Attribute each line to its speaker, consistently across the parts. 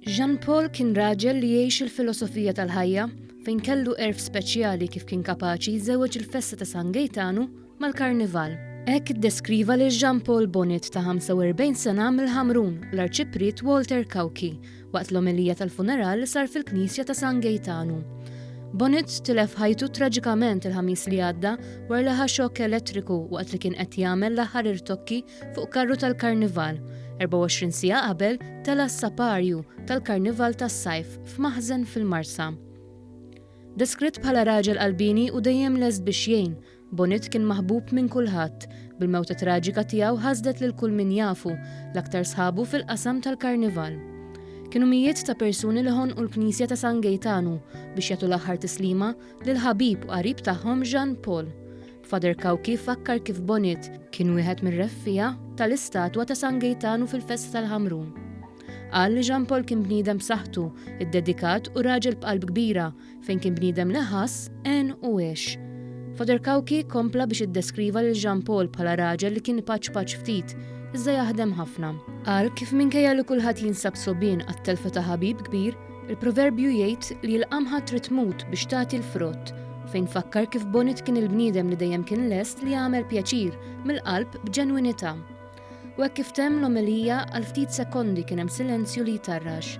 Speaker 1: Jean Paul kien raġel li jgħix il-filosofija tal-ħajja fejn kellu erf speċjali kif kien kapaċi jżewweġ il-festa ta' San Gejtanu mal-Karnival. Hekk iddeskriva lil Jean Paul Bonnet ta' 45 sena mill-Ħamrun l-Arċipriet Walter Kawki Waqt l-omelija tal-funeral sar fil-knisja ta' San Gejtanu. Bonitz tilef ħajtu traġikament il-ħamis li għadda war li ħa xokk elettriku waqt li kien qed jagħmel l-aħħar irtokki fuq karru tal-karnival. 24 siegħa qabel tela' s-saparju tal-karnival tas-sajf f'maħżen fil-Marsa. Deskritt bħala raġel qalbini u dejjem lest biex jgħin, Bonit kien maħbub minn kulħadd. Bil-mewta traġika tiegħu ħasdet lil kull min jafu, l-aktar sħabu fil-qasam tal-Karnival. Kienu mijiet ta' persuni li ħonqu l-Knisja ta' San Gejtanu biex jagħtu l-aħħar tislima lil ħabib u qarib tagħhom Jean Paul. Father Cauchi fakkar kif Bonit kien wieħed mir-reffiegħa tal-istatwa ta' San Gejtanu fil-festa tal-Ħamrun. Qal li Jean Paul kien bniedem b'saħħtu, iddedikat u raġel b'qalb kbira, Fejn kien bniedem li ħass, għen u għex. Father Cauchi kompla biex iddeskriva lil Jean Paul bħala raġel li kien ipaċpaċ ftit, iżda jaħdem ħafna. Qal kif minkejja li kulħadd jinsab sogħbien għat-telfa ta' ħabib kbir, il-proverbju jgħid li l-qamħa trid tmut biex tagħti l-frott, fejn fakkar kif Bonit kien il-bniedem li dejjem kien lest li jagħmel pjaċir mill-qalb b'ġenwinità. U hekk kif temm l-omelija, għal ftit sekondi kien hemm silenzju li jtarrax.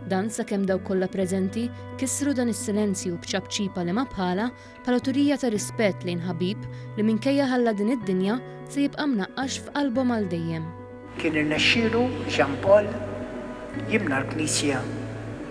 Speaker 1: Dan sakemm dawk kollha preżenti kissru dan is-silenzju b'ċapċipa li ma bħalha bħala turija ta' rispett lejn ħabib li minkejja ħalla din id-dinja se jibqa' mnaqqax f'qalbhom għal dejjem. Kien irnexxielu
Speaker 2: Jean Paul jimla l-knisja